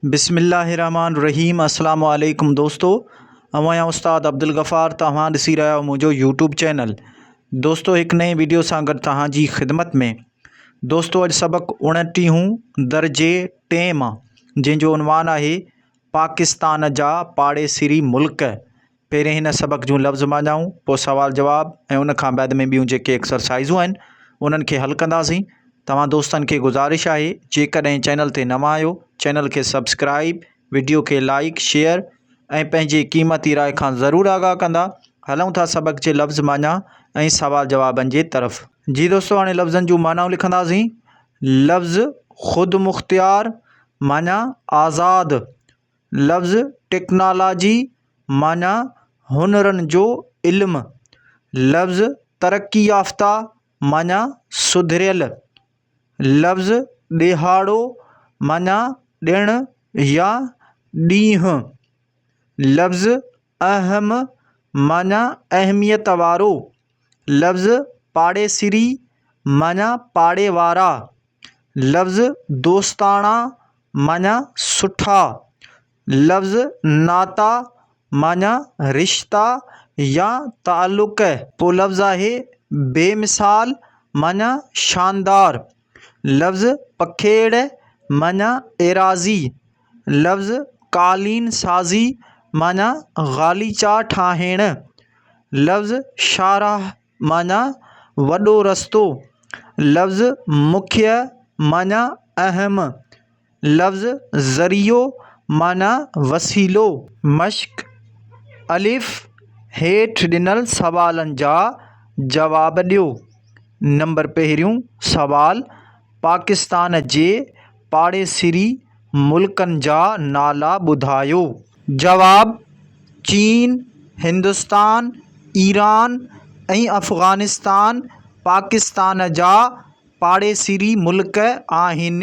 بسم الله الرحمٰن الرحيم السلام عليڪم دوستو اوهان يا استاد عبدالغفار توهان ڏسي رهيا آهيو منهنجو يوٽيوب چينل دوستو هڪ نئين ويڊيو سان گڏ توهان جي خدمت ۾ دوستو اڄ سبق اڻٽيهون درجي ٽئين مان جنهن جو عنوان آهي پاڪستان جا پاڙيسري ملڪ پهرين هن سبق جون لفظ معنائون، پوء سوال جواب ۽ ان کان بعد ۾ ٻيون جيڪي ايڪسرسائيزون آهن انهن کي حل ڪنداسين. توهان دوستن کي گذارش آهي جيڪڏهن چينل تي نوان آهيو چينل کي سبسڪرائيب، وڊيو کي لائيڪ، شيئر ۽ پنهنجي قيمتي راء کان ضرور آگاهه ڪندا. هلون ٿا سبق جي لفظ معنيٰ ۽ سوال جوابن جي طرف. جي دوستو هاڻي لفظن جون معنائون لکنداسين. لفظ خودمختيار معنيٰ آزاد. لفظ ٽيڪنالاجي معنيٰ هنرن جو علم، لفظ ترقي يافته معنيٰ سڌريل، لفظ ڏيهاڙو معنيٰ ڏڻ يا ڏينهن، لفظ اهم معنيٰ اهميت وارو لفظ پاڙيسري معنيٰ پاڙي وارا لفظ دوستاڻا معنيٰ سٺا لفظ ناتا معنيٰ رشتا يا تعلق پوء لفظ آهي بي مثال معنيٰ شاندار لفظ پکيڙ معنيٰ ايراضي، لفظ قالين سازي معنيٰ غاليچا ٺاهڻ، لفظ شاهراهه معنيٰ وڏو رستو، لفظ مکيه معنيٰ اهم لفظ ذريعو معنيٰ وسيلو. مشق، الف، هيٺ ڏنل سوالن جا جواب ڏيو. نمبر پهريون سوال، پاڪستان جي پاڙيسري ملڪن جا نالا ٻڌايو. جواب، چين، هندستان، ايران ۽ افغانستان پاڪستان جا پاڙيسري ملڪ آهن.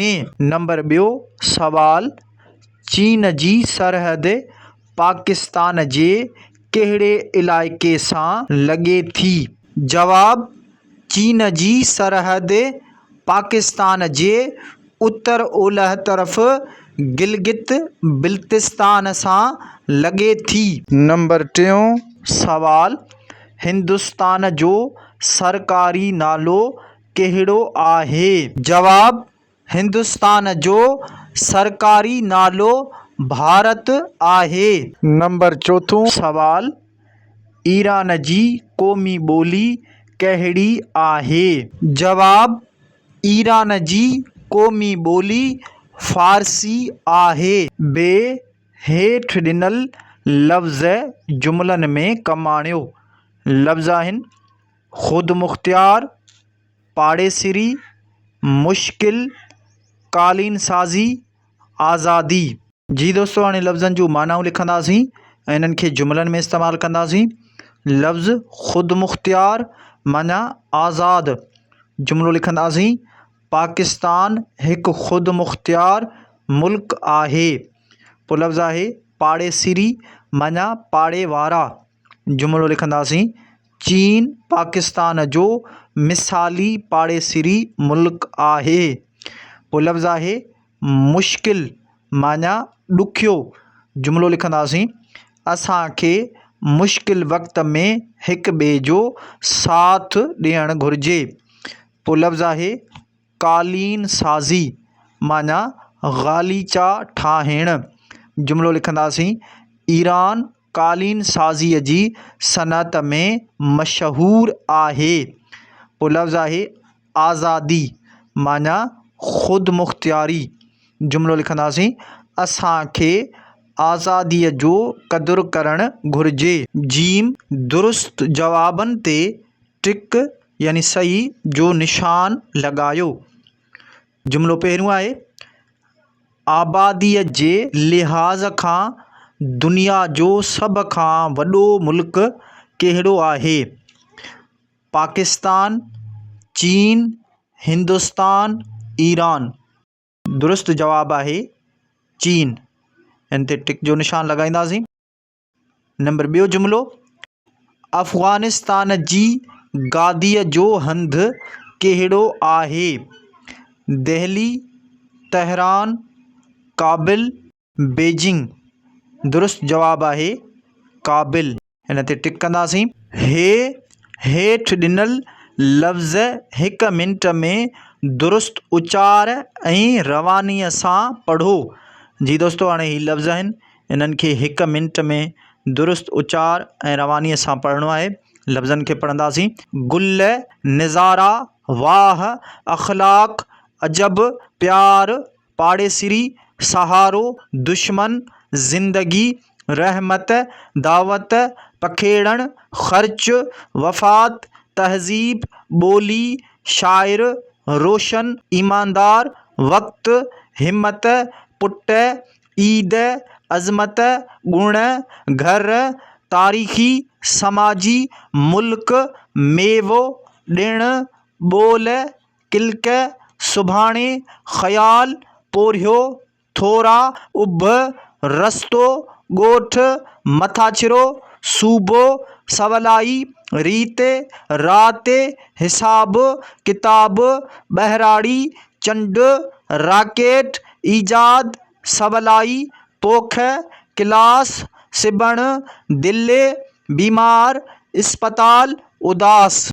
نمبر ٻيو سوال، چين جي سرحد پاڪستان جي ڪهڙي علائقي سان لڳي ٿي؟ جواب، چين جي سرحد پاڪستان جي اتر اولهه طرف گلگت بلتستان سان لڳي ٿي. نمبر ٽيون سوال، هندستان جو سرڪاري نالو ڪهڙو آهي؟ جواب، هندستان جو سرڪاري نالو ڀارت آهي. نمبر چوٿون سوال، ايران جي قومي ٻولي ڪهڙي آهي؟ جواب، ايران جي قومي ٻولي فارسي آهي. بي، هيٺ ڏنل لفظ جملن ۾ ڪم آڻيو. لفظ آهن. خودمختيار، پاڙيسري، مشڪل، قالين سازي، آزادي. جي دوستو هاڻي لفظن جون معنائون لکنداسين ۽ انهن کي جملن ۾ استعمال ڪنداسين. لفظ خودمختيار معنيٰ آزاد جملو لکنداسين، پاڪستان هڪ خودمختيار ملڪ آهي. پوء لفظ آهي پاڙيسري معنيٰ پاڙي وارا. جملو لکنداسين، چين پاڪستان جو مثالي پاڙيسري ملڪ آهي. پوء لفظ آهي، مشڪل معنيٰ ڏکيو. جملو لکنداسين، اسان کي مشڪل وقت ۾ هڪ ٻئي جو ساٿ ڏيڻ گهرجي. پوء لفظ آهي، قالين سازي معنيٰ غاليچا ٺاهڻ. جملو لکنداسين، ايران، قالين سازيء جي صنعت ۾ مشهور آهي. پوء لفظ آهي آزادي معنيٰ خودمختياري. جملو لکنداسين، اسان کي آزاديء جو قدر ڪرڻ گهرجي. ج درست جوابن تي ٽڪ يعني صحيح جو نشان لڳايو. جملو پهريون آهي، آباديء جي لحاظ کان دنيا جو سڀ کان وڏو ملڪ ڪهڙو آهي؟ پاڪستان، چين، هندستان، ايران. درست جواب آهي، چين. ان تي ٽڪ جو نشان لڳائينداسين. نمبر ٻيو جملو، افغانستان جي گاديء جو هنڌ ڪهڙو آهي؟ Delhi, Tehran, Kabul, Beijing. درست جواب آهي ڪابل. ان تي ٽڪ ڪنداسين. هي هيٺ ڏنل لفظ هڪ منٽ ۾ درست اچار ۽ روانيء سان پڙهو. جي دوستو هاڻي هي لفظ آهن. انهن کي هڪ منٽ ۾ درست اچار ۽ روانيء سان پڙهڻو آهي. لفظن کي پڙهنداسين. گل، نظارا، واهه، اخلاق، عجب، پيار، پاڙيسري، سهارو، دشمن، زندگي، رحمت، دعوت، پکيڙڻ، خرچ، وفات، تهذيب، ٻولي، شاعر، روشن، ايماندار، وقت، همت، پٽ، عيد، عظمت، ڳڻ، گهر، تاريخي، سماجي، ملڪ، ميوو، ڏڻ، ٻول، ڪلڪ، سڀاڻي، خيال، پورهيو، ٿورا، اڀ، رستو، ڳوٺ، مٿاڇرو، صوبو، سولائي، ريت، رات، حساب، ڪتاب، ٻهراڙي، چنڊ، راڪيٽ، ايجاد، سولائي، پوک، ڪلاس، سبڻ، دلي، بيمار، اسپتال، اداس.